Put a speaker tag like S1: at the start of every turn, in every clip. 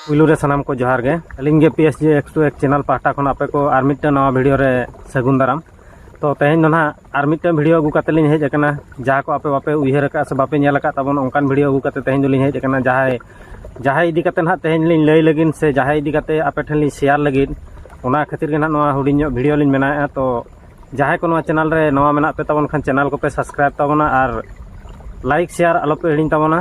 S1: ᱯᱩᱭᱞᱩ ᱨᱮ ᱥᱟᱱᱟᱢ ᱠᱚ ᱡᱚᱦᱟᱨ
S2: ᱜᱮ ᱟᱹᱞᱤᱧ ᱜᱮ P S J X two ᱮᱠ ᱪᱮᱱᱮᱞ ᱯᱟᱦᱴᱟ ᱠᱷᱚᱱ ᱟᱯᱮ ᱠᱚ ᱟᱨ ᱢᱤᱫᱴᱮᱱ ᱱᱟᱣᱟ ᱵᱷᱤᱰᱤᱭᱳ ᱨᱮ ᱥᱟᱹᱜᱩᱱ ᱫᱟᱨᱟᱢ ᱛᱚ ᱛᱮᱦᱮᱧ ᱫᱚ ᱱᱟᱦᱟᱜ ᱟᱨ ᱢᱤᱫᱴᱮᱱ ᱵᱷᱤᱰᱤᱭᱳ ᱟᱹᱜᱩ ᱠᱟᱛᱮ ᱞᱤᱧ ᱦᱮᱡ ᱟᱠᱟᱱᱟ ᱡᱟᱦᱟᱸ ᱠᱚ ᱟᱯᱮ ᱵᱟᱯᱮ ᱩᱭᱦᱟᱹᱨ ᱟᱠᱟᱫ ᱥᱮ ᱵᱟᱯᱮ ᱧᱮᱞ ᱟᱠᱟᱫ ᱛᱟᱵᱚᱱ ᱚᱱᱠᱟᱱ ᱵᱷᱤᱰᱤᱭᱳ ᱟᱹᱜᱩ ᱠᱟᱛᱮ ᱛᱮᱦᱮᱧ ᱫᱚᱞᱤᱧ ᱦᱮᱡ ᱟᱠᱟᱱᱟ ᱡᱟᱦᱟᱸᱭ ᱡᱟᱦᱟᱸᱭ ᱤᱫᱤ ᱠᱟᱛᱮ ᱱᱟᱦᱟᱜ ᱛᱮᱦᱮᱧ ᱞᱤᱧ ᱞᱟᱹᱭ ᱞᱟᱹᱜᱤᱫ ᱥᱮ ᱡᱟᱦᱟᱸᱭ ᱤᱫᱤ ᱠᱟᱛᱮ ᱟᱯᱮ ᱴᱷᱮᱱ ᱞᱤᱧ ᱥᱮᱭᱟᱨ ᱞᱟᱹᱜᱤᱫ ᱚᱱᱟ ᱠᱷᱟᱹᱛᱤᱨ ᱜᱮ ᱱᱟᱦᱟᱜ ᱱᱚᱣᱟ ᱦᱩᱰᱤᱧ ᱧᱚᱜ ᱵᱷᱤᱰᱤᱭᱳ ᱞᱤᱧ ᱵᱮᱱᱟᱣᱮᱫᱼᱟ ᱛᱚ ᱡᱟᱦᱟᱸᱭ ᱠᱚ ᱱᱚᱣᱟ ᱪᱮᱱᱮᱞ ᱨᱮ ᱱᱚᱣᱟ ᱢᱮᱱᱟᱜ ᱯᱮ ᱛᱟᱵᱚᱱ ᱠᱷᱟᱱ ᱪᱮᱱᱮᱞ ᱠᱚᱯᱮ ᱥᱟᱵᱥᱠᱨᱟᱭᱤᱵᱽ ᱛᱟᱵᱚᱱᱟ ᱟᱨ ᱞᱟᱭᱤᱠ ᱥᱮᱭᱟᱨ ᱟᱞᱚᱯᱮ ᱦᱤᱲᱤᱧ ᱛᱟᱵᱚᱱᱟ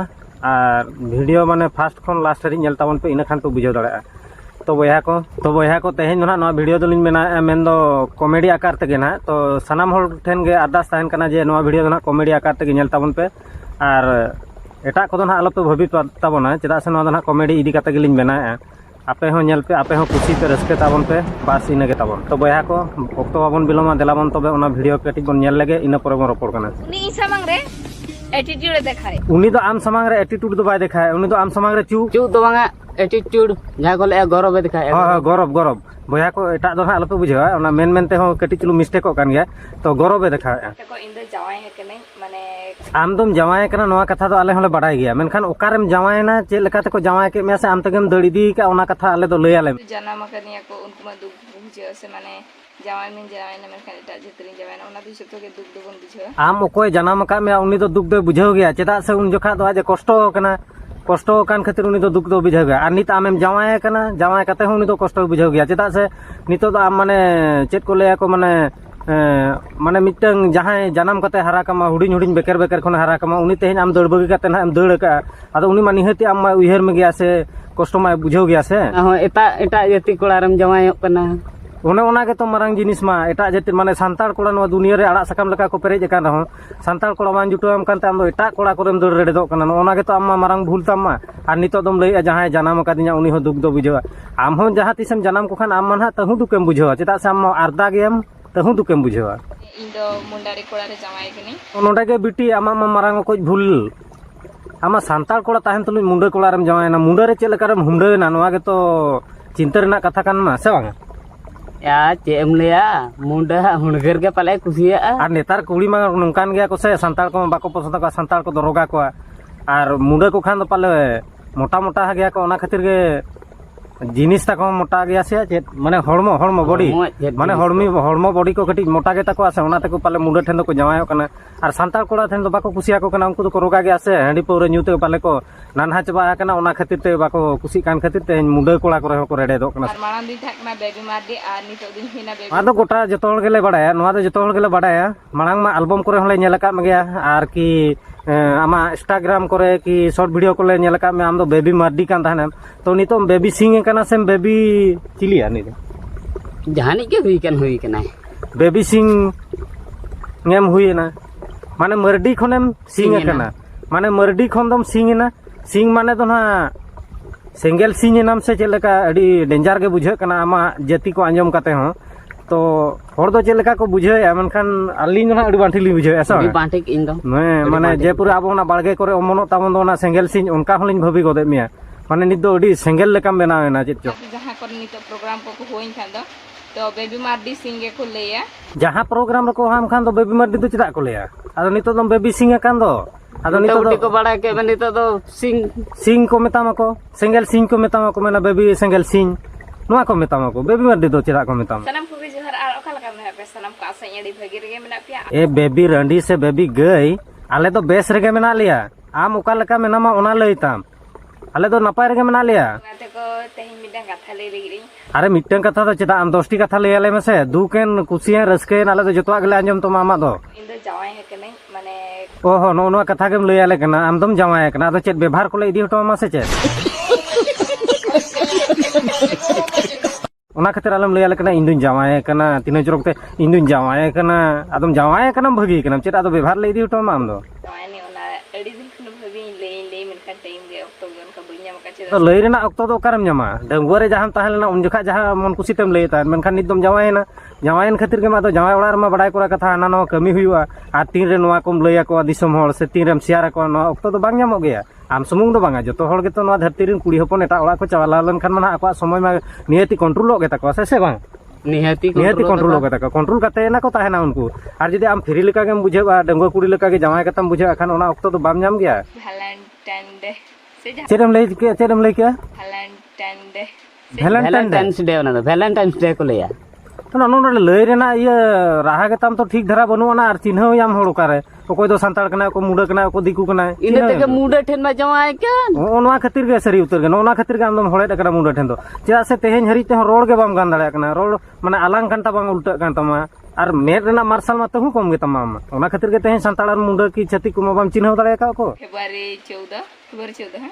S2: ᱟᱨ ᱵᱷᱤᱰᱤᱭᱳ ᱢᱟᱱᱮ ᱯᱷᱟᱥᱴ ᱠᱷᱚᱱ ᱞᱟᱥᱴ ᱦᱟᱹᱨᱤᱡ ᱧᱮᱞ ᱛᱟᱵᱚᱱ ᱯᱮ ᱤᱱᱟᱹ ᱠᱷᱟᱱ ᱯᱮ ᱵᱩᱡᱷᱟᱹᱣ ᱫᱟᱲᱮᱭᱟᱜᱼᱟ ᱛᱚ ᱵᱚᱭᱦᱟ ᱠᱚ ᱛᱚ ᱵᱚᱭᱦᱟ ᱠᱚ ᱛᱮᱦᱮᱧ ᱫᱚ ᱱᱟᱦᱟᱜ ᱱᱚᱣᱟ ᱵᱷᱤᱰᱤᱭᱳ ᱫᱚᱞᱤᱧ ᱢᱮᱱᱟ ᱢᱮᱱᱫᱚ ᱠᱚᱢᱮᱰᱤ ᱟᱠᱟᱨ ᱛᱮᱜᱮ ᱱᱟᱦᱟᱜ ᱛᱚ ᱥᱟᱱᱟᱢ ᱦᱚᱲ ᱴᱷᱮᱱ ᱜᱮ ᱟᱨᱫᱟᱥ ᱛᱟᱦᱮᱱ ᱠᱟᱱᱟ ᱡᱮ ᱱᱚᱣᱟ ᱵᱷᱤᱰᱤᱭᱳ ᱫᱚ ᱱᱟᱦᱟᱜ ᱠᱚᱢᱮᱰᱤ ᱟᱠᱟᱨ ᱛᱮᱜᱮ ᱧᱮᱞ ᱛᱟᱵᱚᱱ ᱯᱮ ᱟᱨ ᱮᱴᱟᱜ ᱠᱚᱫᱚ ᱱᱟᱦᱟᱜ ᱟᱞᱚᱯᱮ ᱵᱷᱟᱹᱵᱤ ᱛᱟᱵᱚᱱᱟ ᱪᱮᱫᱟᱜ ᱥᱮ ᱱᱚᱣᱟ ᱫᱚ ᱱᱟᱦᱟᱜ ᱠᱚᱢᱮᱰᱤ ᱤᱫᱤ ᱠᱟᱛᱮᱫ ᱜᱮᱞᱤᱧ ᱵᱮᱱᱟᱣᱮᱫᱼᱟ ᱟᱯᱮ ᱦᱚᱸ ᱧᱮᱞ ᱯᱮ ᱟᱯᱮ ᱦᱚᱸ ᱠᱩᱥᱤ ᱯᱮ ᱨᱟᱹᱥᱠᱟᱹ ᱛᱟᱵᱚᱱ ᱯᱮ ᱵᱟᱥ ᱤᱱᱟᱹ ᱜᱮ ᱛᱟᱵᱚᱱ ᱛᱚ ᱵᱚᱭᱦᱟ ᱠᱚ ᱚᱠᱛᱚ ᱵᱟᱵᱚᱱ ᱵᱤᱞᱚᱢᱟ ᱫᱮᱞᱟ ᱵᱚᱱ ᱛᱚᱵᱮ ᱚᱱᱟ ᱵᱷᱤᱰᱤᱭᱳ ᱠᱟᱹᱴᱤᱡ ᱵᱚᱱ ᱧᱮᱞ ᱞᱮᱜᱮ ᱤᱱᱟᱹ ᱯᱚᱨᱮ ᱵᱚᱱ ᱨᱚᱯᱚᱲ ᱠᱟᱱᱟ ᱩᱱᱤ ᱤᱧ ᱥᱟᱢᱟᱝ ᱨᱮ
S1: ᱮᱴᱤᱴᱤᱭᱩᱰ ᱮ ᱫᱮᱠᱷᱟᱭ ᱩᱱᱤ ᱫᱚ ᱟᱢ ᱥᱟᱢᱟᱝ ᱨᱮ
S2: ᱮᱴᱤᱴᱤᱭᱩᱰ ᱫᱚ ᱵᱟᱭ ᱫᱮᱠᱷᱟᱭ ᱩᱱᱤ ᱫᱚ ᱟᱢ ᱥᱟᱢᱟᱝ ᱨᱮ ᱪᱩ ᱪᱩ ᱫᱚ ᱵᱟᱝᱟ ᱮᱴᱤᱴᱤᱭᱩᱰ
S3: ᱡᱟᱦᱟᱸ ᱠᱚ ᱞᱟᱹᱭᱟ ᱜᱚᱨᱚᱵ ᱮ ᱫᱮᱠᱷᱟᱭ ᱦᱳᱭ ᱦᱳᱭ ᱜᱚᱨᱚᱵ ᱜᱚᱨᱚᱵ
S2: ᱵᱚᱭᱦᱟ ᱠᱚ ᱮᱴᱟᱜ ᱫᱚ ᱦᱟᱸᱜ ᱟᱞᱚᱯᱮ ᱵᱩᱡᱷᱟᱹᱣᱟ ᱚᱱᱟ ᱢᱮᱱ ᱢᱮᱱ ᱛᱮᱦᱚᱸ ᱠᱟᱹᱴᱤᱡ ᱪᱩᱞᱩᱝ ᱢᱤᱥᱴᱮᱠᱚᱜ ᱠᱟᱱ ᱜᱮᱭᱟ ᱛᱚ ᱜᱚᱨᱚᱵ ᱮ ᱫᱮᱠᱷᱟᱣᱮᱜᱼᱟ ᱛᱟᱠᱚ ᱤᱧ ᱫᱚ ᱡᱟᱶᱟᱭ
S1: ᱟᱠᱟᱱᱟᱹᱧ ᱢᱟᱱᱮ ᱟᱢ ᱫᱚᱢ ᱡᱟᱶᱟᱭ
S2: ᱠᱟᱱᱟ ᱱᱚᱣᱟ ᱠᱟᱛᱷᱟ ᱫᱚ ᱟᱞᱮ ᱦᱚᱸᱞᱮ ᱵᱟᱰᱟᱭ ᱜᱮᱭᱟ ᱢᱮᱱᱠᱷᱟᱱ ᱚᱠᱟᱨᱮᱢ ᱡᱟᱶᱟᱭᱮᱱᱟ ᱪᱮᱫ ᱞᱮᱠᱟ ᱛᱮᱠᱚ ᱡᱟᱶᱟᱭ ᱠᱮᱫ ᱢᱮᱭᱟ ᱥᱮ ᱟᱢ ᱛᱮᱜᱮᱢ ᱫᱟᱹᱲ ᱤᱫᱤ ᱠᱟᱜ ᱚᱱᱟ ᱠᱟᱛᱷᱟ ᱟᱞᱮ ᱫᱚ ᱞᱟᱹᱭ ᱟᱞᱮ ᱢᱮ ᱡᱟᱱᱟᱢ ᱟᱠᱟᱫᱤᱧᱟ ᱠᱚ ᱩᱱᱠᱩ ᱢᱟ ᱫᱩᱠ ᱵᱩᱡᱷᱟᱹᱜᱼᱟ ᱥᱮ ᱢᱟᱱᱮ ᱡᱟᱶᱟᱭ ᱢᱟᱹᱧ ᱡᱟᱶᱟᱭᱮᱱᱟ ᱢᱮᱱᱠᱷᱟᱱ ᱮᱴᱟᱜ ᱡᱟᱹᱛ ᱨᱤᱧ ᱡᱟᱶᱟᱭᱮᱱᱟ
S1: ᱚᱱᱟ ᱫᱚ ᱡᱚᱛᱚ ᱜᱮ ᱫᱩᱠ ᱫᱚᱵᱚᱱ ᱵᱩᱡᱷᱟᱹᱣᱟ ᱟᱢ ᱚᱠᱚᱭ ᱡᱟᱱᱟᱢ ᱟᱠᱟᱫ ᱢᱮᱭᱟ
S2: ᱩᱱᱤ ᱫᱚ ᱫᱩᱠ ᱫᱚᱭ ᱵᱩᱡᱷᱟᱹᱣ ᱜᱮᱭᱟ ᱪᱮᱫᱟᱜ ᱥᱮ ᱩᱱ ᱡᱚᱠᱷᱟᱡ ᱫᱚ ᱟᱡ ᱮ ᱠᱚᱥᱴᱚ ᱟᱠᱟᱱᱟ ᱠᱚᱥᱴᱚ ᱟᱠᱟᱱ ᱠᱷᱟᱹᱛᱤᱨ ᱩᱱᱤ ᱫᱚ ᱫᱩᱠ ᱫᱚ ᱵᱩᱡᱷᱟᱹᱣ ᱜᱮᱭᱟ ᱟᱨ ᱱᱤᱛ ᱟᱢᱮᱢ ᱡᱟᱶᱟᱭ ᱟᱠᱟᱱᱟ ᱡᱟᱶᱟᱭ ᱠᱟᱛᱮ ᱦᱚᱸ ᱩᱱᱤ ᱫᱚ ᱠᱚᱥᱴᱚᱭ ᱵᱩᱡᱷᱟᱹᱣ ᱜᱮᱭᱟ ᱪᱮᱫᱟᱜ ᱥᱮ ᱱᱤᱛᱚᱜ ᱫᱚ ᱟᱢ ᱢᱟᱱᱮ ᱪᱮᱫ ᱠᱚ ᱞᱟᱹᱭᱟᱠᱚ ᱢᱟᱱᱮ ᱢᱟᱱᱮ ᱢᱤᱫᱴᱟᱝ ᱡᱟᱦᱟᱸᱭ ᱡᱟᱱᱟᱢ ᱠᱟᱛᱮ ᱦᱟᱨᱟ ᱠᱟᱢᱟ ᱦᱩᱰᱤᱧ ᱦᱩᱰᱤᱧ ᱵᱮᱠᱮᱨ ᱵᱮᱠᱮᱨ ᱠᱷᱚᱱ ᱦᱟᱨᱟ ᱠᱟᱢᱟ ᱩᱱᱤ ᱛᱮᱦᱮᱧ ᱟᱢ ᱫᱟᱹᱲ ᱵᱟᱹᱜᱤ ᱠᱟᱛᱮ ᱱᱟᱜ ᱮᱢ ᱫᱟᱹᱲ ᱠᱟᱜᱼᱟ ᱟᱫᱚ ᱩᱱᱤ ᱢᱟ ᱱᱤᱦᱟᱹᱛᱤ ᱟᱢ ᱢᱟ ᱩᱭᱦᱟᱹᱨ ᱢᱮᱜᱮᱭᱟ ᱥᱮ ᱠᱚᱥᱴᱚ ᱢᱟᱭ ᱵᱩᱡᱷᱟᱹᱣ ᱜᱮᱭᱟ ᱥᱮ ᱦᱚᱸ ᱮᱴᱟᱜ ᱮᱴᱟᱜ ᱡᱟᱹᱛᱤ
S3: ᱠᱚᱲᱟ ᱨᱮᱢ ᱡᱟᱶᱟᱭᱚᱜ ᱠᱟᱱᱟ ᱚᱱᱮ ᱚᱱᱟ ᱜᱮᱛᱚ
S2: ᱢᱟᱨᱟᱝ ᱡᱤᱱᱤᱥ ᱢᱟ ᱮᱴᱟᱜ ᱡᱟᱹᱛᱤ ᱢᱟᱱᱮ ᱥᱟᱱᱛᱟᱲ ᱠᱚᱲᱟ ᱱᱚᱣᱟ ᱫᱩᱱᱤᱭᱟᱹ ᱨᱮ ᱟᱲᱟᱜ ᱥᱟᱠᱟᱢ ᱞᱮᱠᱟ ᱠᱚ ᱯᱮᱨᱮᱡ ᱟᱠᱟᱱ ᱨᱮᱦᱚᱸ ᱥᱟᱱᱛᱟᱲ ᱠᱚᱲᱟ ᱵᱟᱝ ᱡᱩᱴᱟᱹᱣᱟᱢ ᱠᱟᱱᱛᱮ ᱟᱢ ᱫᱚ ᱮᱴᱟᱜ ᱠᱚᱲᱟ ᱠᱚᱨᱮᱢ ᱫᱟᱹᱲ ᱨᱮᱰᱮᱫᱚᱜ ᱠᱟᱱᱟ ᱱᱚᱜᱼᱚ ᱱᱚᱣᱟ ᱜᱮᱛᱚ ᱟᱢ ᱢᱟ ᱢᱟᱨᱟᱝ ᱵᱷᱩᱞ ᱛᱟᱢ ᱢᱟ ᱟᱨ ᱱᱤᱛᱚᱜ ᱫᱚᱢ ᱞᱟᱹᱭᱮᱫᱼᱟ ᱡᱟᱦᱟᱸᱭ ᱡᱟᱱᱟᱢ ᱟᱠᱟᱫᱤᱧᱟ ᱩᱱᱤ ᱦᱚᱸ ᱫᱩᱠ ᱫᱚ ᱵᱩᱡᱷᱟᱹᱣᱟ ᱟᱢ ᱦᱚᱸ ᱡᱟᱦᱟᱸ ᱛᱤᱥᱮᱢ ᱡᱟᱱᱟᱢ ᱠᱚ ᱠᱷᱟᱱ ᱟᱢ ᱢᱟ ᱱᱟᱦᱟᱜ ᱛᱟᱹᱦᱩ ᱫᱩᱠᱮᱢ ᱵᱩᱡᱷᱟᱹᱣᱟ ᱪᱮᱫᱟᱜ ᱥᱮ ᱟᱢ ᱢᱟ ᱟᱨᱫᱟ ᱜᱮᱭᱟᱢ ᱛᱟᱹᱦᱩ ᱫᱩᱠᱮᱢ ᱵᱩᱡᱷᱟᱹᱣᱟ ᱤᱧ ᱫᱚ
S1: ᱢᱩᱱᱰᱟᱨᱤ ᱠᱚᱲᱟ ᱨᱮ ᱡᱟᱶᱟᱭ ᱠᱟᱹᱱᱟᱹᱧ ᱱᱚᱰᱮ ᱜᱮ ᱵᱤᱴᱤ
S2: ᱟᱢᱟᱜ ᱢᱟ ᱢᱟᱨᱟᱝ ᱚᱠᱚᱡ ᱵᱷᱩᱞ ᱟᱢᱟᱜ ᱥᱟᱱᱛᱟᱲ ᱠᱚᱲᱟ ᱛᱟᱦᱮᱱ ᱛᱩᱞᱩᱡ ᱢᱩᱰᱟᱹ ᱠᱚᱲᱟ ᱨᱮᱢ ᱡᱟᱶᱟᱭᱮᱱᱟ ᱢᱩᱰᱟᱹ ᱨᱮ ᱪᱮᱫ ᱞᱮᱠᱟ ᱨᱮᱢ ᱦᱩᱰᱟᱹᱭᱮᱱᱟ ᱱᱚᱣᱟ ᱜᱮᱛᱚ ᱪᱤᱱᱛᱟᱹ ᱨᱮᱱᱟᱜ ᱠᱟᱛᱷᱟ ᱠᱟᱱ ᱢᱟ ᱥᱮ ᱵᱟᱝᱟ ᱭᱟ
S3: ᱪᱮᱫ ᱮᱢ ᱞᱟᱹᱭᱟ ᱢᱩᱰᱟᱹ ᱦᱟᱸᱜ ᱦᱩᱲᱜᱟᱹᱨ ᱜᱮ ᱯᱟᱞᱮ ᱠᱩᱥᱤᱭᱟᱜᱼᱟ ᱟᱨ ᱱᱮᱛᱟᱨ ᱠᱩᱲᱤ ᱢᱟ
S2: ᱱᱚᱝᱠᱟᱱ ᱜᱮᱭᱟ ᱠᱚ ᱥᱮ ᱥᱟᱱᱛᱟᱲ ᱠᱚ ᱵᱟᱠᱚ ᱯᱚᱥᱚᱱᱫ ᱠᱚᱣᱟ ᱥᱟᱱᱛᱟᱲ ᱠᱚᱫᱚ ᱨᱚᱜᱟ ᱠᱚᱣᱟ ᱟᱨ ᱢᱩᱰᱟᱹ ᱠᱚ ᱠᱷᱟᱱ ᱫᱚ ᱯᱟᱞᱮ ᱢᱚᱴᱟ ᱢᱚᱴᱟ ᱜᱮᱭᱟ ᱠᱚ ᱚᱱᱟ ᱠᱷᱟᱹᱛᱤᱨ ᱜᱮ ᱡᱤᱱᱤᱥ ᱛᱟᱠᱚ ᱢᱚᱴᱟ ᱜᱮᱭᱟ ᱥᱮ ᱪᱮᱫ ᱢᱟᱱᱮ ᱦᱚᱲᱢᱚ ᱦᱚᱲᱢᱚ ᱵᱚᱰᱤ ᱢᱟᱱᱮ ᱦᱚᱲᱢᱚ ᱦᱚᱲᱢᱚ ᱵᱚᱰᱤ ᱠᱚ ᱠᱟᱹᱴᱤᱡ ᱢᱚᱴᱟ ᱜᱮᱛᱟ ᱠᱚᱣᱟ ᱥᱮ ᱚᱱᱟ ᱛᱮᱠᱚ ᱯᱟᱞᱮ ᱢᱩᱰᱟᱹ ᱴᱷᱮᱱ ᱫᱚᱠᱚ ᱡᱟᱶᱟᱭᱚᱜ ᱠᱟᱱᱟ ᱟᱨ ᱥᱟᱱᱛᱟᱲ ᱠᱚᱲᱟ ᱴᱷᱮᱱ ᱫᱚ ᱵᱟᱠᱚ ᱠᱩᱥᱤᱭᱟᱠᱚ ᱠᱟᱱᱟ ᱩᱱᱠᱩ ᱫᱚᱠᱚ ᱨᱚᱜᱟ ᱜᱮᱭᱟ ᱥᱮ ᱦᱟᱺᱰᱤ ᱯᱟᱹᱣᱨᱟᱹ ᱧᱩ ᱛᱮ ᱯᱟᱞᱮ ᱠᱚ ᱱᱟᱱᱦᱟ ᱪᱟᱵᱟ ᱟᱠᱟᱱᱟ ᱚᱱᱟ ᱠᱷᱟᱹᱛᱤᱨ ᱛᱮ ᱵᱟᱠᱚ ᱠᱩᱥᱤᱜ ᱠᱟᱱ ᱠᱷᱟᱹᱛᱤᱨ ᱛᱮ ᱢᱩᱰᱟᱹ ᱠᱚᱲᱟ ᱠᱚᱨᱮ ᱦᱚᱸᱠᱚ ᱨᱮᱰᱮᱫᱚᱜ ᱠᱟᱱᱟ ᱟᱨ ᱢᱟᱲᱟᱝ ᱫᱤᱱ ᱛᱟᱦᱮᱸ ᱠᱟᱱᱟ ᱵᱮᱵᱤ
S1: ᱢᱟᱨᱰᱤ ᱟᱨ ᱱᱤᱛᱚᱜ ᱫᱤᱱ ᱦᱩᱭᱱᱟ ᱵᱮᱵᱤ ᱟᱫᱚ ᱜᱚᱴᱟ ᱡᱚᱛᱚ ᱦᱚᱲ ᱜᱮᱞᱮ
S2: ᱵᱟᱲᱟᱭᱟ ᱱᱚᱣᱟ ᱫᱚ ᱡᱚᱛᱚ ᱦᱚᱲ ᱜᱮᱞᱮ ᱵᱟᱲᱟᱭᱟ ᱢᱟᱲᱟᱝ ᱢᱟ ᱟᱞᱵᱚᱢ ᱠᱚᱨᱮ ᱦᱚᱸᱞᱮ ᱧᱮᱞ ᱟᱠᱟᱫ ᱢᱮᱜᱮᱭᱟ ᱟᱨ ᱠᱤ ᱟᱢᱟᱜ ᱤᱱᱥᱴᱟᱜᱨᱟᱢ ᱠᱚᱨᱮ ᱠᱤ ᱥᱚᱨᱴ ᱵᱷᱤᱰᱤᱭᱳ ᱠᱚᱞᱮ ᱧᱮᱞ ᱟᱠᱟᱫ ᱢᱮ ᱟᱢ ᱫᱚ ᱵᱮᱵᱤ ᱢᱟᱨᱰᱤ ᱠᱟᱱ ᱛᱟᱦᱮᱱᱟᱢ ᱛᱚ ᱱᱤᱛᱚᱜ ᱵᱮᱵᱤ ᱥᱤᱝ ᱠᱟᱱᱟ ᱥᱮᱢ ᱵᱮᱵᱤ ᱪᱤᱞᱤᱭᱟ ᱱᱤᱛ ᱡᱟᱦᱟᱱᱤᱡ
S3: ᱜᱮ ᱦᱩᱭ ᱠᱟᱱ ᱦᱩᱭ ᱠᱟᱱᱟᱭ ᱵᱮᱵᱤ
S2: ᱥᱤᱝ ᱮᱢ ᱦᱩᱭᱮᱱᱟ ᱢᱟᱱᱮ ᱢᱟᱹᱨᱰᱤ ᱠᱷᱚᱱᱮᱢ ᱥᱤᱝ ᱟᱠᱟᱱᱟ ᱢᱟᱱᱮ ᱢᱟᱹᱨᱰᱤ ᱠᱷᱚᱱ ᱫᱚᱢ ᱥᱤᱝ ᱮᱱᱟ ᱥᱤᱝ ᱢᱟᱱᱮ ᱫᱚ ᱱᱟᱦᱟᱜ ᱥᱮᱸᱜᱮᱞ ᱥᱤᱧ ᱮᱱᱟᱢ ᱥᱮ ᱪᱮᱫ ᱞᱮᱠᱟ ᱟᱹᱰᱤ ᱰᱮᱧᱡᱟᱨ ᱜᱮ ᱵᱩᱡᱷᱟᱹᱜ ᱠᱟᱱᱟ ᱟᱢᱟᱜ ᱡᱟᱹᱛᱤ ᱠᱚ ᱟᱸᱡᱚᱢ ᱠᱟᱛᱮ ᱦᱚᱸ ᱛᱚ ᱦᱚᱲ ᱫᱚ ᱪᱮᱫ ᱞᱮᱠᱟ ᱠᱚ ᱵᱩᱡᱷᱟᱹᱣᱮᱫᱼᱟ ᱢᱮᱱᱠᱷᱟᱱ ᱟᱹᱞᱤᱧ ᱫᱚ ᱱᱟᱦᱟᱜ ᱟᱹᱰᱤ ᱵᱟᱝ ᱴᱷᱤᱠ ᱞᱤᱧ ᱵᱩᱡᱷᱟᱹᱣᱮᱫᱼᱟ ᱥᱮ ᱟᱹᱰᱤ ᱵᱟᱝ ᱴᱷᱤᱠ ᱤᱧ ᱫᱚ ᱦᱮᱸ
S3: ᱢᱟᱱᱮ ᱡᱮ ᱯᱩᱨᱟᱹ
S2: ᱟᱵᱚ ᱚᱱᱟ ᱵᱟᱲᱜᱮ ᱠᱚᱨᱮ ᱚᱢᱚᱱᱚᱜ ᱛᱟᱵᱚᱱ ᱫᱚ ᱚᱱᱟ ᱥᱮᱸᱜᱮᱞ ᱥᱤᱧ ᱚᱱᱠᱟ ᱦᱚᱸᱞᱤᱧ ᱵᱷᱟᱹᱵᱤ ᱜᱚᱫᱮᱫ ᱢᱮᱭᱟ ᱢᱟᱱᱮ ᱱᱤᱛ ᱫᱚ ᱟᱹᱰᱤ ᱥᱮᱸᱜᱮᱞ ᱞᱮᱠᱟᱢ ᱵᱮᱱᱟᱣᱮᱱᱟ ᱪᱮᱫ ᱪᱚ ᱡᱟᱦᱟᱸ ᱠᱚᱨᱮ ᱱᱤᱛᱚᱜ ᱯᱨᱳᱜᱨᱟᱢ
S1: ᱠᱚᱠᱚ ᱦᱩᱭᱮᱱ ᱠᱷᱟᱱ ᱫᱚ ᱛᱚ ᱵᱮᱵᱤ ᱢᱟᱨᱰᱤ ᱥᱤᱝ ᱜᱮᱠᱚ ᱞᱟᱹᱭᱟ ᱡᱟᱦᱟᱸ ᱯᱨᱳᱜᱨᱟᱢ
S2: ᱨᱮᱠᱚ ᱦᱟᱢ ᱠᱷᱟᱱ ᱫᱚ ᱵᱮᱵᱤ ᱢᱟᱨᱰᱤ ᱫᱚ ᱪᱮᱫᱟᱜ ᱠᱚ ᱞᱟᱹᱭᱟ ᱟᱫᱚ ᱱᱤᱛᱚᱜ ᱫᱚ ᱵᱮᱵᱤ ᱥᱤᱝ ᱟᱠᱟᱱ ᱫᱚ ᱟᱫᱚ ᱱᱤᱛᱚᱜ ᱫᱚ ᱠᱚ ᱵᱟᱲᱟᱭ ᱠᱮᱫ ᱢᱮᱱ ᱱᱤᱛᱚᱜ
S3: ᱫᱚ ᱥᱤᱝ ᱥᱤᱝ ᱠᱚ
S2: ᱢᱮᱛᱟᱢᱟ ᱠᱚ ᱥᱮᱸᱜᱮᱞ ᱥᱤᱝ ᱠᱚ ᱢᱮᱛᱟᱢᱟ ᱠᱚ ᱢᱮᱱᱟ ᱵᱮᱵᱤ ᱥᱮᱸᱜᱮᱞ ᱥᱤᱝ ᱱᱚᱣᱟ ᱠᱚ ᱢᱮᱛᱟᱢᱟ ᱠᱚ ᱵᱮᱵᱤ ᱢᱟᱨᱰᱤ ᱫᱚ ᱪᱮᱫᱟᱜ ᱠᱚ ᱢᱮᱛᱟᱢᱟ ᱥᱟᱱᱟᱢ
S1: ᱠᱚᱜᱮ ᱡᱚᱦᱟᱨ ᱟᱨ ᱚᱠᱟ ᱞᱮᱠᱟ ᱢᱮᱱᱟᱜ ᱯᱮ ᱥᱟᱱᱟᱢ ᱠᱚ ᱟᱥᱟᱧ ᱟᱹᱰᱤ ᱵᱷᱟᱹᱜᱤ ᱨᱮᱜᱮ
S2: ᱢᱮᱱᱟᱜ ᱯᱮᱭᱟ ᱮ ᱵᱮᱵᱤ ᱨᱟᱺᱰᱤ ᱥᱮ ᱵᱮᱵᱤ ᱜᱟᱹᱭ ᱟᱞᱮ ᱫᱚ ᱵᱮᱥ ᱨᱮᱜᱮ ᱢᱮᱱᱟᱜ ᱞᱮᱭᱟ ᱟᱢ ᱚᱠᱟ ᱞᱮᱠᱟ ᱢᱮᱱᱟᱢᱟ ᱚᱱᱟ ᱞᱟᱹᱭ ᱛᱟᱢ ᱟᱞᱮ ᱫᱚ ᱱᱟᱯᱟᱭ ᱨᱮᱜᱮ ᱢᱮᱱᱟᱜ ᱞᱮᱭᱟ
S1: ᱟᱨᱮ ᱢᱤᱫᱴᱟᱝ ᱠᱟᱛᱷᱟ ᱫᱚ
S2: ᱪᱮᱫᱟᱜ ᱟᱢ ᱫᱚᱥᱴᱤ ᱠᱟᱛᱷᱟ ᱞᱟᱹᱭ ᱟᱞᱮ ᱢᱮᱥᱮ ᱫᱩᱠᱮᱱ ᱠᱩᱥᱤᱭᱮᱱ ᱨᱟᱹᱥᱠᱟᱹᱭᱮᱱ ᱟᱞᱮ ᱫᱚ ᱡᱚᱛᱚᱣᱟᱜ ᱜᱮᱞᱮ ᱟᱸᱡᱚᱢ ᱛᱟᱢᱟ ᱟᱢᱟᱜ ᱫᱚ
S1: ᱚ ᱦᱚᱸ ᱱᱚᱜᱼᱚ ᱱᱚᱣᱟ
S2: ᱠᱟᱛᱷᱟ ᱜᱮᱢ ᱞᱟᱹᱭ ᱟᱞᱮ ᱠᱟᱱᱟ ᱟᱢ ᱫᱚᱢ ᱡᱟᱶᱟᱭ ᱟᱠᱟᱱᱟ ᱟᱫᱚ ᱪᱮᱫ ᱵᱮᱵᱷᱟᱨ ᱠᱚᱞᱮ ᱤᱫᱤ ᱦᱚᱴᱚ ᱟᱢᱟ ᱥᱮ ᱪᱮᱫ ᱚᱱᱟ ᱠᱷᱟᱹᱛᱤᱨ ᱟᱞᱮᱢ ᱞᱟᱹᱭᱟᱞᱮ ᱠᱟᱱᱟ ᱤᱧ ᱫᱩᱧ ᱡᱟᱶᱟᱭ ᱠᱟᱱᱟ ᱛᱤᱱᱟᱹᱜ ᱡᱚᱨᱚᱠ ᱛᱮ ᱤᱧ ᱫᱩᱧ ᱡᱟᱶᱟᱭ ᱠᱟᱱᱟ ᱟᱫᱚᱢ ᱡᱟᱶᱟᱭ ᱠᱟᱱᱟᱢ ᱵᱷᱟᱹᱜᱤ ᱠᱟᱱᱟᱢ ᱪᱮᱫ ᱟᱫᱚ ᱵᱮᱵᱷᱟᱨ ᱞᱮ ᱤᱫᱤ ᱦᱚᱴᱚ ᱟᱢᱟ ᱟᱢ ᱫᱚ ᱢᱟᱱᱮ ᱚᱱᱟ ᱟᱹᱰᱤ
S1: ᱫᱤᱱ ᱠᱷᱚᱱ ᱵᱷᱟᱹᱵᱤᱧ ᱞᱟᱹᱭᱟᱹᱧ ᱞᱟᱹᱭ ᱢᱮᱱᱠᱷᱟᱱ ᱴᱟᱭᱤᱢ ᱜᱮ ᱚᱠᱛᱚ ᱜᱮ ᱚᱱᱠᱟ ᱵᱟᱹᱧ ᱧᱟᱢ ᱟᱠᱟᱫ ᱪᱮᱫᱟᱜ ᱞᱟᱹᱭ ᱨᱮᱱᱟᱜ ᱚᱠᱛᱚ ᱫᱚ ᱚᱠᱟᱨᱮᱢ
S2: ᱧᱟᱢᱟ ᱰᱟᱺᱜᱩᱣᱟᱹ ᱨᱮ ᱡᱟᱦᱟᱸᱢ ᱛᱟᱦᱮᱸ ᱞᱮᱱᱟ ᱩᱱ ᱡᱚᱠᱷᱟᱡ ᱡᱟᱦᱟᱸ ᱢᱚᱱ ᱠᱩᱥᱤ ᱛᱮᱢ ᱞᱟᱹᱭᱮᱫ ᱛᱟᱦᱮᱸᱫ ᱢᱮᱱᱠᱷᱟᱱ ᱱᱤᱛ ᱫᱚᱢ ᱡᱟᱶᱟᱭᱮᱱᱟ ᱡᱟᱶᱟᱭᱮᱱ ᱠᱷᱟᱹᱛᱤᱨ ᱜᱮ ᱟᱫᱚ ᱡᱟᱶᱟᱭ ᱚᱲᱟᱜ ᱨᱮᱢᱟ ᱵᱟᱰᱟᱭ ᱠᱚᱨᱟ ᱠᱟᱛᱷᱟ ᱦᱟᱱᱟ ᱱᱚᱣᱟ ᱠᱟᱹᱢᱤ ᱦᱩᱭᱩᱜᱼᱟ ᱟᱨ ᱛᱤᱱᱨᱮ ᱱᱚᱣᱟ ᱠᱚᱢ ᱞᱟᱹᱭ ᱟᱠᱚᱣᱟ ᱫᱤᱥᱚᱢ ᱦᱚᱲ ᱥᱮ ᱛᱤᱱᱨᱮᱢ ᱥᱮᱭᱟᱨ ᱟᱠᱚᱣᱟ ᱱᱚᱣᱟ ᱚᱠᱛᱚ ᱫᱚ ᱵᱟᱝ ᱧᱟᱢᱚᱜ ᱜᱮᱭᱟ ᱟᱢ ᱥᱩᱢᱩᱝ ᱫᱚ ᱵᱟᱝᱟ ᱡᱚᱛᱚ ᱦᱚᱲ ᱜᱮᱛᱚ ᱱᱚᱣᱟ ᱫᱷᱟᱹᱨᱛᱤ ᱨᱮᱱ ᱠᱩᱲᱤ ᱦᱚᱯᱚᱱ ᱮᱴᱟᱜ ᱚᱲᱟᱜ ᱠᱚ ᱪᱟᱞᱟᱣ ᱞᱮᱱᱠᱷᱟᱱ ᱢᱟ ᱟᱠᱚᱣᱟᱜ ᱥᱚᱢᱚᱭ ᱢᱟ ᱱᱤᱦᱟᱹᱛᱤ ᱠᱚᱱᱴᱨᱳᱞᱚᱜ ᱜᱮᱛᱟ ᱠᱚᱣᱟ ᱥᱮ ᱥᱮ ᱵᱟᱝ ᱱᱤᱦᱟᱹᱛᱤ
S3: ᱱᱤᱦᱟᱹᱛᱤ ᱠᱚᱱᱴᱨᱳᱞᱚᱜ
S2: ᱜᱮᱛᱟ ᱠᱚᱣᱟ ᱠᱚᱱᱴᱨᱳᱞ ᱠᱟᱛᱮ ᱮᱱᱟ ᱠᱚ ᱛᱟᱦᱮᱱᱟ ᱩᱱᱠᱩ ᱟᱨ ᱡᱩᱫᱤ ᱟᱢ ᱯᱷᱤᱨᱤ ᱞᱮᱠᱟ ᱜᱮᱢ ᱵᱩᱡᱷᱟᱹᱣᱟ ᱰᱟᱺᱜᱩᱣᱟᱹ ᱠᱩᱲᱤ ᱞᱮᱠᱟ ᱜᱮ ᱡᱟᱶᱟᱭ ᱠᱟᱛᱮᱢ ᱵᱩᱡᱷᱟᱹᱣᱟ ᱠᱷᱟᱱ ᱚᱱᱟ ᱚᱠᱛᱚ ᱫᱚ ᱵᱟᱢ ᱧᱟᱢ ᱜᱮᱭᱟ ᱪᱮᱫ
S4: ᱮᱢ ᱞᱟᱹᱭ ᱠᱮᱜᱼᱟ ᱪᱮᱫ ᱮᱢ ᱞᱟᱹᱭ
S2: ᱠᱮᱜᱼᱟ
S4: ᱵᱷᱮᱞᱮᱱᱴᱟᱭᱤᱱᱥ
S2: ᱰᱮ ᱚᱱᱟ ᱫᱚ ᱵᱷᱮᱞᱮᱱᱴᱟᱭᱤᱱᱥ ᱰᱮ ᱠᱚ ᱞᱟᱹᱭᱟ
S3: ᱛᱟᱦᱚᱞᱮ ᱱᱚᱰᱮ
S2: ᱞᱟᱹᱭ ᱨᱮᱱᱟᱜ ᱤᱭᱟᱹ ᱨᱟᱦᱟ ᱜᱮᱛᱟᱢ ᱛᱚ ᱴᱷᱤᱠ ᱫᱷᱟᱨᱟ ᱵᱟᱹᱱᱩᱜ ᱟᱱᱟ ᱟᱨ ᱪᱤᱱᱦᱟᱹᱣ ᱭᱟᱢ ᱦᱚᱲ ᱚᱠᱟᱨᱮ ᱚᱠᱚᱭ ᱫᱚ ᱥᱟᱱᱛᱟᱲ ᱠᱟᱱᱟᱭ ᱚᱠᱚᱭ ᱢᱩᱰᱟᱹ ᱠᱟᱱᱟᱭ ᱚᱠᱚᱭ ᱫᱤᱠᱩ ᱠᱟᱱᱟᱭ ᱤᱱᱟᱹ ᱛᱮᱜᱮ ᱢᱩᱰᱟᱹ ᱴᱷᱮᱱ
S3: ᱢᱟ ᱡᱟᱶᱟᱭ ᱠᱟᱱ ᱱᱚᱜᱼᱚ ᱱᱚᱣᱟ ᱠᱷᱟᱹᱛᱤᱨ ᱜᱮ ᱥᱟᱹᱨᱤ
S2: ᱩᱛᱟᱹᱨ ᱜᱮ ᱱᱚᱜᱼᱚ ᱱᱚᱣᱟ ᱠᱷᱟᱹᱛᱤᱨ ᱜᱮ ᱟᱢ ᱫᱚᱢ ᱦᱚᱲᱮᱫ ᱟᱠᱟᱱᱟ ᱢᱩᱰᱟᱹ ᱴᱷᱮᱱ ᱫᱚ ᱪᱮᱫᱟᱜ ᱥᱮ ᱛᱮᱦᱮᱧ ᱦᱟᱹᱨᱤᱡ ᱛᱮᱦᱚᱸ ᱨᱚᱲ ᱜᱮ ᱵᱟᱢ ᱜᱟᱱ ᱫᱟᱲᱮᱭᱟᱜ ᱠᱟᱱᱟ ᱨᱚᱲ ᱢᱟᱱᱮ ᱟᱞᱟᱝ ᱠᱟᱱ ᱛᱟᱢᱟ ᱩᱞᱴᱟᱹᱜ ᱠᱟᱱ ᱛᱟᱢᱟ ᱟᱨ ᱢᱮᱫ ᱨᱮᱱᱟᱜ ᱢᱟᱨᱥᱟᱞ ᱢᱟ ᱛᱟᱹᱦᱩ ᱠᱚᱢ ᱜᱮᱛᱟᱢᱟ ᱟᱢ ᱚᱱᱟ ᱠᱷᱟᱹᱛᱤᱨ ᱜᱮ ᱛᱮᱦᱮᱧ ᱥᱟᱱᱛᱟᱲ ᱟᱨ ᱢᱩᱰᱟᱹ ᱠᱤ ᱪᱷᱟᱹᱛᱤᱠ ᱠᱚᱢᱟ ᱵᱟᱢ ᱪᱤᱱᱦᱟᱹᱣ ᱫᱟᱲᱮ ᱟᱠᱟᱫ ᱠᱚ ᱯᱷᱮᱵᱽᱨᱩᱣᱟᱨᱤ ᱪᱳᱫᱽᱫᱚ
S4: ᱯᱷᱮᱵᱽᱨᱩᱣᱟᱨᱤ ᱪᱳᱫᱽᱫᱚ ᱦᱮᱸ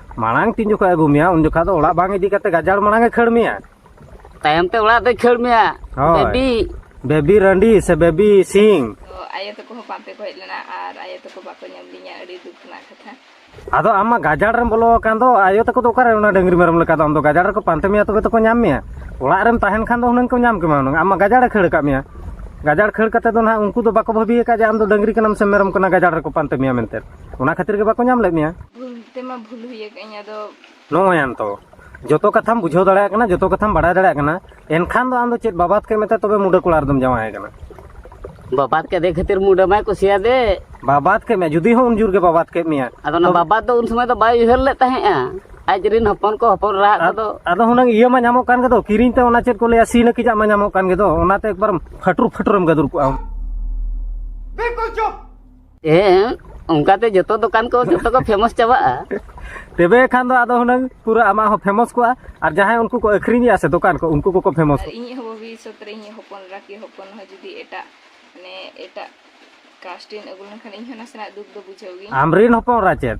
S2: ᱢᱟᱲᱟᱝ ᱛᱤᱱ ᱡᱚᱠᱷᱚᱱ ᱟᱹᱜᱩ ᱢᱮᱭᱟ ᱩᱱ ᱡᱚᱠᱷᱚᱱ ᱫᱚ ᱚᱲᱟᱜ ᱵᱟᱝ ᱤᱫᱤ ᱠᱟᱛᱮ ᱜᱟᱡᱟᱲ ᱢᱟᱲᱟᱝ ᱮ ᱠᱷᱟᱹᱲ ᱢᱮᱭᱟ ᱛᱟᱭᱚᱢ ᱛᱮ
S3: ᱚᱲᱟᱜ ᱫᱚᱭ ᱠᱷᱟᱹᱲ ᱢᱮᱭᱟ ᱦᱳᱭ ᱵᱮᱵᱤ
S2: ᱵᱮᱵᱤ ᱨᱟᱺᱰᱤ ᱥᱮ ᱵᱮᱵᱤ ᱥᱤᱝ ᱛᱚ ᱟᱭᱳ ᱛᱟᱠᱚ ᱦᱚᱸ
S4: ᱯᱟᱱᱛᱮ ᱠᱚ ᱦᱮᱡ ᱞᱮᱱᱟ ᱟᱨ ᱟᱭᱳ ᱛᱟᱠᱚ ᱵᱟᱠᱚ ᱧᱟᱢ ᱞᱤᱧᱟ ᱟᱹᱰᱤ ᱫᱩᱠ ᱨᱮᱱᱟᱜ ᱠᱟᱛᱷᱟ ᱟᱫᱚ ᱟᱢ ᱢᱟ
S2: ᱜᱟᱡᱟᱲ ᱨᱮᱢ ᱵᱚᱞᱚ ᱟᱠᱟᱱ ᱫᱚ ᱟᱭᱳ ᱛᱟᱠᱚ ᱫᱚ ᱚᱠᱟᱨᱮ ᱚᱱᱟ ᱰᱟᱹᱝᱨᱤ ᱢᱮᱨᱚᱢ ᱞᱮᱠᱟ ᱫᱚ ᱟᱢ ᱫᱚ ᱜᱟᱡᱟᱲ ᱨᱮᱠᱚ ᱯᱟᱱᱛᱮ ᱢᱮᱭᱟ ᱛᱚᱵᱮ ᱛᱚᱠᱚ ᱧᱟᱢ ᱢᱮᱭᱟ ᱚᱲᱟᱜ ᱨᱮᱢ ᱛᱟᱦᱮᱱ ᱠᱷᱟᱱ ᱫᱚ ᱦᱩᱱᱟᱹᱝ ᱠᱚ ᱧᱟᱢ ᱠᱮᱢᱟ ᱦᱩᱱᱟᱹᱝ ᱟᱢ ᱢᱟ ᱜᱟᱡᱟᱲ ᱮ ᱠᱷᱟᱹᱲ ᱟᱠᱟᱫ ᱢᱮᱭᱟ ᱜᱟᱡᱟᱲ ᱠᱷᱟᱹᱲ ᱠᱟᱛᱮ ᱫᱚ ᱱᱟᱦᱟᱜ ᱩᱱᱠᱩ ᱫᱚ ᱵᱟᱠᱚ ᱵᱷᱟᱹᱵᱤ ᱟᱠᱟᱫ ᱡᱮ ᱟᱢ ᱫᱚ ᱰᱟᱹᱝᱨᱤ ᱠᱟᱱᱟᱢ ᱥᱮ ᱢᱮᱨᱚᱢ ᱠᱟᱱᱟ ᱜᱟᱡᱟᱲ ᱨᱮᱠᱚ ᱯᱟᱱᱛᱮ ᱢᱮᱭᱟ ᱢᱮᱱᱛᱮ ᱚᱱᱟ ᱠᱷᱟᱹᱛᱤᱨ ᱜᱮ ᱵᱟᱠᱚ ᱧᱟᱢ ᱞᱮᱫ ᱢᱮᱭᱟ ᱵᱷᱩᱞ ᱛᱮᱢᱟ ᱵᱷᱩᱞ ᱦᱩᱭ
S4: ᱟᱠᱟᱫᱤᱧ ᱟᱫᱚ ᱱᱚᱜᱼᱚᱭ ᱟᱢ ᱛᱚ
S2: ᱡᱚᱛᱚ ᱠᱟᱛᱷᱟᱢ ᱵᱩᱡᱷᱟᱹᱣ ᱫᱟᱲᱮᱭᱟᱜ ᱠᱟᱱᱟ ᱡᱚᱛᱚ ᱠᱟᱛᱷᱟᱢ ᱵᱟᱲᱟᱭ ᱫᱟᱲᱮᱭᱟᱜ ᱠᱟᱱᱟ ᱮᱱᱠᱷᱟᱱ ᱫᱚ ᱟᱢ ᱫᱚ ᱪᱮᱫ ᱵᱟᱵᱟᱛ ᱠᱮᱫ ᱢᱮᱛᱮ ᱛᱚᱵᱮ ᱢᱩᱰᱟᱹ ᱠᱚᱲᱟ ᱨᱮᱫᱚᱢ ᱡᱟᱶᱟᱭ ᱠᱟᱱᱟ ᱵᱟᱵᱟᱫ
S3: ᱠᱮᱫᱮ ᱠᱷᱟᱹᱛᱤᱨ ᱢᱩᱰᱟᱹ ᱢᱟᱭ ᱠᱩᱥᱤᱭᱟᱫᱮ ᱵᱟᱵᱟᱛ ᱠᱮᱫ ᱢᱮᱭᱟ
S2: ᱡᱩᱫᱤ ᱦᱚᱸ ᱩᱱ ᱡᱳᱨ ᱜᱮ ᱵᱟᱵᱟᱛ ᱠᱮᱫ ᱢᱮᱭᱟ ᱟᱫᱚ ᱚᱱᱟ ᱵᱟᱵᱟᱫ ᱫᱚ ᱩᱱ
S3: ᱥᱚᱢᱚᱭ ᱫᱚ ᱵᱟᱭ ᱩᱭᱦᱟᱹᱨ ᱞᱮᱫ ᱛᱟᱦᱮᱸᱜᱼᱟ ᱟᱡ ᱨᱤᱱ ᱦᱚᱯᱚᱱ ᱠᱚ ᱦᱚᱯᱚᱱ ᱨᱟᱦᱟᱜ ᱠᱚᱫᱚ ᱟᱫᱚ ᱦᱩᱱᱟᱹᱝ ᱤᱭᱟᱹ ᱢᱟ ᱧᱟᱢᱚᱜ
S2: ᱠᱟᱱ ᱜᱮᱫᱚ ᱠᱤᱨᱤᱧ ᱛᱮ ᱚᱱᱟ ᱪᱮᱫ ᱠᱚ ᱞᱟᱹᱭᱟ ᱥᱤ ᱱᱟᱹᱠᱤᱡᱟᱜ ᱢᱟ ᱧᱟᱢᱚᱜ ᱠᱟᱱ ᱜᱮᱫᱚ ᱚᱱᱟᱛᱮ ᱮᱠᱵᱟᱨ ᱯᱷᱟᱹᱴᱩᱨ ᱯᱷᱟᱹᱴᱩᱨᱮᱢ ᱜᱟᱹᱫᱩᱨ ᱠᱚᱜᱼᱟ
S5: ᱵᱤᱞᱠᱩᱞ ᱪᱩᱯ ᱦᱮᱸ
S3: ᱚᱱᱠᱟᱛᱮ ᱡᱚᱛᱚ ᱫᱚᱠᱟᱱ ᱠᱚ ᱡᱚᱛᱚ ᱠᱚ ᱯᱷᱮᱢᱚᱥ ᱪᱟᱵᱟᱜᱼᱟ ᱛᱚᱵᱮ
S2: ᱠᱷᱟᱱ ᱫᱚ ᱟᱫᱚ ᱦᱩᱱᱟᱹᱝ ᱯᱩᱨᱟᱹ ᱟᱢᱟᱜ ᱦᱚᱸ ᱯᱷᱮᱢᱚᱥ ᱠᱚᱜᱼᱟ ᱟᱨ ᱡᱟᱦᱟᱸᱭ ᱩᱱᱠᱩ ᱠᱚ ᱟᱹᱠᱷᱨᱤᱧᱮᱜᱼᱟ ᱥᱮ ᱫᱚᱠᱟᱱ ᱠᱚ ᱩᱱᱠᱩ ᱠᱚᱠᱚ ᱯᱷᱮᱢᱚᱥ ᱟᱨ ᱤᱧᱤᱡ ᱦᱚᱸ ᱵᱷᱚᱵᱤᱥᱥᱚᱛ ᱨᱮ
S4: ᱤᱧᱤᱡ ᱦᱚᱯᱚᱱ ᱮᱨᱟ ᱠᱤ ᱦᱚᱯᱚᱱ ᱦᱚᱸ ᱡᱩᱫᱤ ᱮᱴᱟᱜ ᱢᱟᱱᱮ ᱮᱴᱟᱜ ᱠᱟᱥᱴ ᱨᱮᱱ ᱟᱹᱜᱩ ᱞᱮᱱᱠᱷᱟᱱ ᱤᱧ ᱦᱚᱸ ᱱᱟᱥᱮᱱᱟᱜ ᱫᱩᱠ ᱫᱚ ᱵᱩᱡᱷᱟᱹᱣ ᱜᱤᱧ ᱟᱢ ᱨᱮᱱ ᱦᱚᱯᱚᱱ ᱮᱨᱟ ᱪᱮᱫ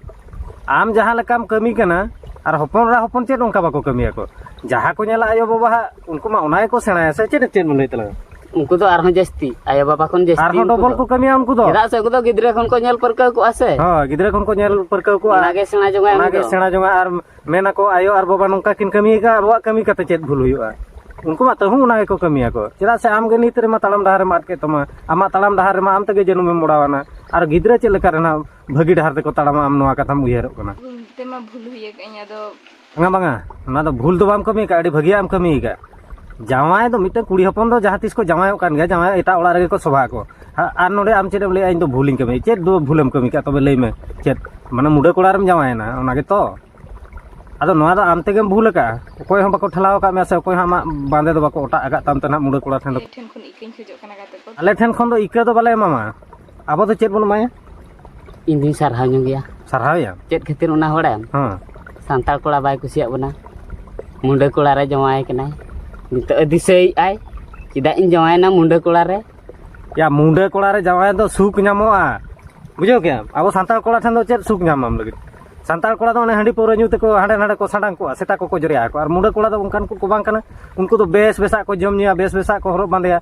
S2: ᱟᱢ ᱡᱟᱦᱟᱸ ᱞᱮᱠᱟᱢ ᱠᱟᱹᱢᱤ ᱠᱟᱱᱟ ᱟᱨ ᱦᱚᱯᱚᱱ ᱮᱨᱟ ᱦᱚᱯᱚᱱ ᱪᱮᱫ ᱚᱱᱠᱟ ᱵᱟᱠᱚ ᱠᱟᱹᱢᱤᱭᱟᱠᱚ ᱡᱟᱦᱟᱸ ᱠᱚ ᱧᱮᱞᱟ ᱟᱭᱳ ᱵᱟᱵᱟᱣᱟᱜ ᱩᱱᱠᱩ ᱢᱟ ᱚᱱᱟ ᱜᱮᱠᱚ ᱥᱮᱬᱟᱭᱟ ᱥᱮ ᱪᱮᱫ ᱪᱮᱫ ᱮᱢ ᱞᱟᱹᱭ ᱛᱟᱞᱟᱝᱟ ᱩᱱᱠᱩ ᱫᱚ ᱟᱨᱦᱚᱸ
S3: ᱡᱟᱹᱥᱛᱤ ᱟᱭᱳ ᱵᱟᱵᱟ ᱠᱷᱚᱱ ᱡᱟᱹᱥᱛᱤ ᱟᱨᱦᱚᱸ ᱩᱱᱠᱩ ᱰᱚᱵᱚᱞ ᱫᱚ᱾ ᱠᱚ ᱠᱟᱹᱢᱤᱭᱟ ᱩᱱᱠᱩ
S2: ᱫᱚ ᱪᱮᱫᱟᱜ ᱥᱮ ᱩᱱᱠᱩ ᱫᱚ ᱜᱤᱫᱽᱨᱟᱹ ᱠᱷᱚᱱ ᱠᱚ
S3: ᱧᱮᱞ ᱯᱟᱹᱨᱠᱟᱹᱣ ᱠᱚᱜᱼᱟ ᱥᱮ ᱦᱳᱭ ᱜᱤᱫᱽᱨᱟᱹ ᱠᱷᱚᱱ ᱠᱚ ᱧᱮᱞ
S2: ᱯᱟᱹᱨᱠᱟᱹᱣ ᱠᱚᱣᱟ ᱚᱱᱟᱜᱮ ᱥᱮᱬᱟ ᱡᱚᱝᱟᱭ ᱩᱱᱤ ᱚᱱᱟᱜᱮ ᱫᱚ
S3: ᱥᱮᱬᱟ ᱡᱚᱝᱟ ᱟᱨ
S2: ᱢᱮᱱᱟᱠᱚ ᱟᱭᱳ ᱟᱨ ᱵᱟᱵᱟ ᱱᱚᱝᱠᱟ ᱠᱤᱱ ᱠᱟᱹᱢᱤᱭᱮᱫᱟ ᱟᱵᱚᱣᱟᱜ ᱠᱟᱹᱢᱤ ᱠᱟᱛᱮ ᱪᱮᱫ ᱵᱷᱩᱞ ᱦᱩᱭᱩᱜᱼᱟ ᱩᱱᱠᱩ ᱢᱟ ᱛᱟᱹᱦᱩ ᱚᱱᱟ ᱜᱮᱠᱚ ᱠᱟᱹᱢᱤᱭᱟᱠᱚ ᱪᱮᱫᱟᱜ ᱥᱮ ᱟᱢᱜᱮ ᱱᱤᱛ ᱨᱮᱢᱟ ᱛᱟᱲᱟᱢ ᱰᱟᱦᱟᱨ ᱨᱮᱢ ᱟᱫ ᱠᱮᱫ ᱛᱟᱢᱟ ᱟᱢᱟᱜ ᱛᱟᱲᱟᱢ ᱰᱟᱦᱟᱨ ᱨᱮᱢᱟ ᱟᱢ ᱛᱮᱜᱮ ᱡᱟᱹᱱᱩᱢᱮᱢ ᱢᱚᱲᱟᱣᱟᱱᱟ ᱟᱨ ᱜᱤᱫᱽᱨᱟᱹ ᱪᱮᱫ ᱞᱮᱠᱟ ᱨᱮᱱᱟᱜ ᱵᱷᱟᱹᱜᱤ ᱰᱟᱦᱟᱨ ᱛᱮᱠᱚ ᱛᱟᱲᱟᱢᱟ ᱟᱢ ᱱᱚᱣᱟ ᱠᱟᱛᱷᱟᱢ ᱩᱭᱦᱟᱹᱨᱚᱜ ᱠᱟᱱᱟ ᱵᱷᱩᱞ ᱛᱮᱢᱟ ᱵᱷᱩᱞ ᱦᱩᱭ
S4: ᱟᱠᱟᱫ ᱟᱹᱧ ᱟᱫᱚ ᱵᱟᱝᱟ ᱵᱟᱝᱟ
S2: ᱚᱱᱟ ᱫᱚ ᱵᱷᱩᱞ ᱫᱚ ᱵᱟᱢ ᱠᱟᱹᱢᱤ ᱟᱠᱟᱫ ᱟᱹᱰᱤ ᱵᱷᱟᱹᱜᱤᱭᱟᱜ ᱮᱢ ᱠᱟᱹᱢᱤ ᱟᱠᱟᱫ ᱡᱟᱶᱟᱭ ᱫᱚ ᱢᱤᱫᱴᱟᱝ ᱠᱩᱲᱤ ᱦᱚᱯᱚᱱ ᱫᱚ ᱡᱟᱦᱟᱸ ᱛᱤᱥ ᱠᱚ ᱡᱟᱶᱟᱭᱚᱜ ᱠᱟᱱ ᱜᱮᱭᱟ ᱡᱟᱶᱟᱭ ᱮᱴᱟᱜ ᱚᱲᱟᱜ ᱨᱮᱜᱮ ᱠᱚ ᱥᱚᱵᱷᱟ ᱟᱠᱚ ᱟᱨ ᱱᱚᱰᱮ ᱟᱢ ᱪᱮᱫ ᱮᱢ ᱞᱟᱹᱭᱟ ᱤᱧ ᱫᱚ ᱵᱷᱩᱞᱤᱧ ᱠᱟᱹᱢᱤ ᱪᱮᱫ ᱫᱚ ᱵᱷᱩᱞᱮᱢ ᱠᱟᱹᱢᱤ ᱠᱟᱜ ᱛᱚᱵᱮ ᱞᱟᱹᱭ ᱢᱮ ᱪᱮᱫ ᱢᱟᱱᱮ ᱢᱩᱰᱟᱹ ᱠᱚᱲᱟ ᱨᱮᱢ ᱡᱟᱶᱟᱭᱮᱱᱟ ᱚᱱᱟ ᱜᱮᱛᱚ ᱟᱫᱚ ᱱᱚᱣᱟ ᱫᱚ ᱟᱢ ᱛᱮᱜᱮᱢ ᱵᱷᱩᱞ ᱟᱠᱟᱜᱼᱟ ᱚᱠᱚᱭ ᱦᱚᱸ ᱵᱟᱠᱚ ᱴᱷᱮᱞᱟᱣ ᱟᱠᱟᱫ ᱢᱮᱭᱟ ᱥᱮ ᱚᱠᱚᱭ ᱦᱚᱸ ᱟᱢᱟᱜ ᱵᱟᱸᱫᱮ ᱫᱚ ᱵᱟᱠᱚ ᱚᱴᱟᱜ ᱟᱠᱟᱫ ᱛᱟᱢ ᱛᱮ ᱱᱟᱜ ᱢᱩᱰᱟᱹ ᱠᱚᱲᱟ ᱴᱷᱮᱱ ᱫᱚ
S4: ᱟᱞᱮ ᱴᱷᱮᱱ ᱠᱷᱚᱱ ᱫᱚ ᱤᱠᱟᱹ ᱫᱚ
S2: ᱵᱟᱞᱮ ᱮᱢᱟᱢᱟ ᱟᱵᱚ ᱫᱚ ᱪᱮᱫ ᱵᱚᱱ ᱮᱢᱟᱭᱟ ᱤᱧ ᱫᱩᱧ
S3: ᱥᱟᱨᱦᱟᱣ ᱧᱚᱜ ᱜᱮᱭᱟ ᱥᱟᱨᱦᱟᱣᱮᱭᱟ ᱪᱮᱫ ᱠᱷᱟᱹᱛᱤᱨ
S2: ᱚᱱᱟ ᱦᱚᱲᱟᱭᱟᱢ
S3: ᱦᱮᱸ
S2: ᱥᱟᱱᱛᱟᱲ ᱠᱚᱲᱟ
S3: ᱵᱟᱭ ᱠᱩᱥᱤᱭᱟᱜ ᱵᱚᱱᱟ ᱢᱩᱸᱰᱟᱹ ᱠᱚᱲᱟ ᱨᱮ ᱡᱟᱶᱟᱭ ᱠᱟᱱᱟᱭ ᱱᱤᱛᱚᱜ ᱮ ᱫᱤᱥᱟᱹᱭᱮᱫᱼᱟᱭ ᱪᱮᱫᱟᱜ ᱤᱧ ᱡᱟᱶᱟᱭᱮᱱᱟ ᱢᱩᱸᱰᱟᱹ ᱠᱚᱲᱟ ᱨᱮ ᱭᱟ ᱢᱩᱸᱰᱟᱹ
S2: ᱠᱚᱲᱟ ᱨᱮ ᱡᱟᱶᱟᱭ ᱫᱚ ᱥᱩᱠ ᱧᱟᱢᱚᱜᱼᱟ ᱵᱩᱡᱷᱟᱹᱣ ᱠᱮᱜᱼᱟᱢ ᱟᱵᱚ ᱥᱟᱱᱛᱟᱲ ᱠᱚᱲᱟ ᱴᱷᱮᱱ ᱫᱚ ᱪᱮᱫ ᱥᱩᱠ ᱧᱟᱢᱟᱢ ᱞᱟᱹᱜᱤᱫ ᱥᱟᱱᱛᱟᱲ ᱠᱚᱲᱟ ᱫᱚ ᱚᱱᱮ ᱦᱟᱺᱰᱤ ᱯᱟᱹᱣᱨᱟᱹ ᱧᱩ ᱛᱮᱠᱚ ᱦᱟᱸᱰᱮ ᱱᱟᱰᱮ ᱠᱚ ᱥᱟᱰᱟᱝ ᱠᱚᱜᱼᱟ ᱥᱮᱛᱟ ᱠᱚᱠᱚ ᱡᱚᱨᱭᱟ ᱟᱠᱚ ᱟᱨ ᱢᱩᱸᱰᱟᱹ ᱠᱚᱲᱟ ᱫᱚ ᱚᱱᱠᱟᱱ ᱠᱚᱠᱚ ᱵᱟᱝ ᱠᱟᱱᱟ ᱩᱱᱠᱩ ᱫᱚ ᱵᱮᱥ ᱵᱮᱥᱟᱜ ᱠᱚ ᱡᱚᱢ ᱧᱩᱭᱟ ᱵᱮᱥ ᱵᱮᱥᱟᱜ ᱠᱚ ᱦᱚᱨᱚᱜ ᱵᱟᱸᱫᱮᱭᱟ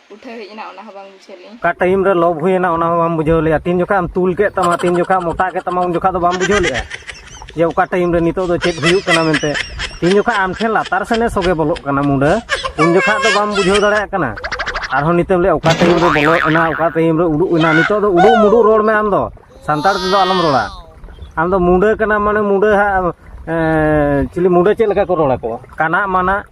S4: ᱩᱴᱷᱟᱹᱣ ᱦᱮᱡ ᱮᱱᱟ ᱚᱱᱟ ᱦᱚᱸ ᱵᱟᱝ ᱵᱩᱡᱷᱟᱹᱣ ᱞᱮᱫᱟᱹᱧ ᱚᱠᱟ ᱴᱟᱭᱤᱢ ᱨᱮ ᱞᱚᱵ
S2: ᱦᱩᱭᱮᱱᱟ ᱚᱱᱟ ᱦᱚᱸ ᱵᱟᱢ ᱵᱩᱡᱷᱟᱹᱣ ᱞᱮᱫᱟ ᱛᱤᱱ ᱡᱚᱠᱷᱟ ᱮᱢ ᱛᱩᱞ ᱠᱮᱫ ᱛᱟᱢᱟ ᱛᱤᱱ ᱡᱚᱠᱷᱟ ᱢᱚᱴᱟ ᱠᱮᱫ ᱛᱟᱢᱟ ᱩᱱ ᱡᱚᱠᱷᱟ ᱫᱚ ᱵᱟᱢ ᱵᱩᱡᱷᱟᱹᱣ ᱞᱮᱫᱟ ᱡᱮ ᱚᱠᱟ ᱴᱟᱭᱤᱢ ᱨᱮ ᱱᱤᱛᱚᱜ ᱫᱚ ᱪᱮᱫ ᱦᱩᱭᱩᱜ ᱠᱟᱱᱟ ᱢᱮᱱᱛᱮ ᱛᱤᱱ ᱡᱚᱠᱷᱟ ᱟᱢ ᱴᱷᱮᱱ ᱞᱟᱛᱟᱨ ᱥᱮᱱᱮ ᱥᱚᱜᱮ ᱵᱚᱞᱚᱜ ᱠᱟᱱᱟ ᱢᱩᱰᱟᱹ ᱩᱱ ᱡᱚᱠᱷᱟ ᱫᱚ ᱵᱟᱢ ᱵᱩᱡᱷᱟᱹᱣ ᱫᱟᱲᱮᱭᱟᱜ ᱠᱟᱱᱟ ᱟᱨᱦᱚᱸ ᱱᱤᱛᱚᱜ ᱞᱮ ᱚᱠᱟ ᱴᱟᱭᱤᱢ ᱨᱮ ᱵᱚᱞᱚ ᱮᱱᱟ ᱚᱠᱟ ᱴᱟᱭᱤᱢ ᱨᱮ ᱩᱰᱩᱠ ᱮᱱᱟ ᱱᱤᱛᱚᱜ ᱫᱚ ᱩᱰᱩᱠ ᱢᱩᱰᱩᱠ ᱨᱚᱲ ᱢᱮ ᱟᱢ ᱫᱚ ᱥᱟᱱᱛᱟᱲ ᱛᱮᱫᱚ ᱟᱞᱚᱢ ᱨᱚᱲᱟ ᱟᱢ ᱫᱚ ᱢᱩᱰᱟᱹ ᱠᱟᱱᱟ ᱢᱟᱱᱮ ᱢᱩᱰᱟᱹ ᱦᱟᱸᱜ ᱪᱤᱞᱤ ᱢᱩᱰᱟᱹ ᱪᱮᱫ ᱞᱮᱠᱟ ᱠᱚ ᱨᱚᱲ ᱟᱠᱚ ᱠᱟᱱᱟ ᱢᱟᱱᱟ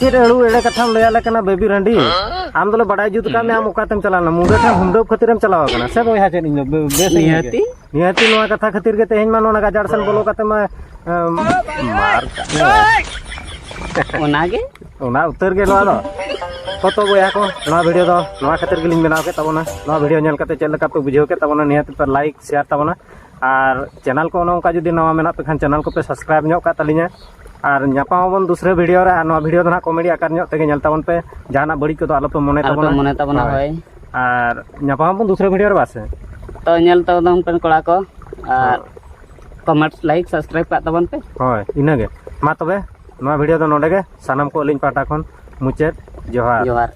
S2: ᱪᱮᱫ ᱟᱹᱲᱩ ᱮᱲᱮ ᱠᱟᱛᱷᱟᱢ ᱞᱟᱹᱭ ᱟᱞᱮ ᱠᱟᱱᱟ ᱵᱮᱵᱤ ᱨᱟᱺᱰᱤ ᱟᱢ ᱫᱚᱞᱮ ᱵᱟᱰᱟᱭ ᱡᱩᱛ ᱠᱟᱜ ᱢᱮ ᱟᱢ ᱚᱠᱟᱛᱮᱢ ᱪᱟᱞᱟᱣ ᱞᱮᱱᱟ ᱢᱩᱰᱟᱹ ᱴᱷᱮᱱ ᱦᱩᱢᱰᱟᱹᱵ ᱠᱷᱟᱹᱛᱤᱨᱮᱢ ᱪᱟᱞᱟᱣ ᱟᱠᱟᱱᱟ ᱥᱮ ᱵᱚᱭᱦᱟ ᱪᱮᱫ ᱤᱧ ᱫᱚ ᱵᱮᱥ ᱱᱤᱦᱟᱹᱛᱤ ᱱᱤᱦᱟᱹᱛᱤ
S3: ᱱᱚᱣᱟ ᱠᱟᱛᱷᱟ
S2: ᱠᱷᱟᱹᱛᱤᱨ ᱜᱮ ᱛᱮᱦᱮᱧ ᱢᱟ ᱱᱚᱣᱟ ᱜᱟᱡᱟᱲ ᱥᱮᱱ ᱵᱚᱞᱚ ᱠᱟᱛᱮ ᱢᱟ ᱢᱟᱨ
S3: ᱚᱱᱟᱜᱮ ᱚᱱᱟ ᱩᱛᱟᱹᱨ ᱜᱮ
S2: ᱱᱚᱣᱟ ᱫᱚ ᱠᱚᱛᱚ ᱵᱚᱭᱦᱟ ᱠᱚ ᱱᱚᱣᱟ ᱵᱷᱤᱰᱤᱭᱳ ᱫᱚ ᱱᱚᱣᱟ ᱠᱷᱟᱹᱛᱤᱨ ᱜᱮᱞᱤᱧ ᱵᱮᱱᱟᱣ ᱠᱮᱫ ᱛᱟᱵᱚᱱᱟ ᱱᱚᱣᱟ ᱵᱷᱤᱰᱤᱭᱳ ᱧᱮᱞ ᱠᱟᱛᱮ ᱪᱮᱫ ᱞᱮᱠᱟ ᱯᱮ ᱵᱩᱡᱷᱟᱹᱣ ᱠᱮᱫ ᱛᱟᱵᱚᱱᱟ ᱱᱤᱦᱟᱹᱛ ᱯᱮ ᱞᱟᱭᱤᱠ ᱥᱮᱭᱟᱨ ᱛᱟᱵᱚᱱᱟ ᱟᱨ ᱪᱮᱱᱮᱞ ᱠᱚ ᱚᱱᱮ ᱚᱱᱠᱟ ᱡᱩᱫᱤ ᱱᱟᱣᱟ ᱢᱮᱱᱟᱜ ᱯᱮ ᱠᱷᱟᱱ ᱪᱮᱱᱮᱞ ᱠᱚᱯᱮ ᱥᱟᱵᱥᱠᱨᱟᱭᱤᱵᱽ ᱧᱚᱜ ᱠᱟᱜ ᱛᱟᱹᱞᱤᱧᱟ ᱟᱨ ᱧᱟᱯᱟᱢ ᱟᱵᱚᱱ ᱫᱩᱥᱨᱟᱹ ᱵᱷᱤᱰᱤᱭᱳ ᱨᱮ ᱟᱨ ᱱᱚᱣᱟ ᱵᱷᱤᱰᱤᱭᱳ ᱫᱚ ᱱᱟᱦᱟᱜ ᱠᱚᱢᱮᱰᱤ ᱟᱠᱟᱨ ᱧᱚᱜ ᱛᱮᱜᱮ ᱧᱮᱞ ᱛᱟᱵᱚᱱ ᱯᱮ ᱡᱟᱦᱟᱱᱟᱜ ᱵᱟᱹᱲᱤᱡ ᱠᱚᱫᱚ ᱟᱞᱚᱯᱮ ᱢᱚᱱᱮ ᱟᱞᱚᱯᱮ ᱛᱟᱵᱚᱱᱟ ᱢᱚᱱᱮ ᱛᱟᱵᱚᱱᱟ ᱦᱳᱭ
S3: ᱟᱨ
S2: ᱧᱟᱯᱟᱢ ᱟᱵᱚᱱ ᱫᱩᱥᱨᱟᱹ ᱵᱷᱤᱰᱤᱭᱳ ᱨᱮ ᱵᱟᱥᱮ ᱛᱚ ᱧᱮᱞ
S3: ᱛᱟᱵᱚᱱ ᱯᱮ ᱠᱚᱲᱟ ᱠᱚ ᱟᱨ ᱠᱚᱢᱮᱱᱴ ᱞᱟᱭᱤᱠ ᱥᱟᱵᱥᱠᱨᱟᱭᱤᱵ ᱠᱟᱜ ᱛᱟᱵᱚᱱ ᱯᱮ ᱦᱳᱭ ᱤᱱᱟᱹᱜᱮ
S2: ᱢᱟ ᱛᱚᱵᱮ ᱱᱚᱣᱟ ᱵᱷᱤᱰᱤᱭᱳ ᱫᱚ ᱱᱚᱰᱮ ᱜᱮ ᱥᱟᱱᱟᱢ ᱠᱚ ᱟᱹᱞᱤᱧ
S3: ᱯᱟᱦᱴᱟ
S2: ᱠᱷᱚᱱ ᱢᱩᱪᱟᱹᱫ ᱡᱚᱦᱟᱨ ᱡᱚᱦᱟᱨ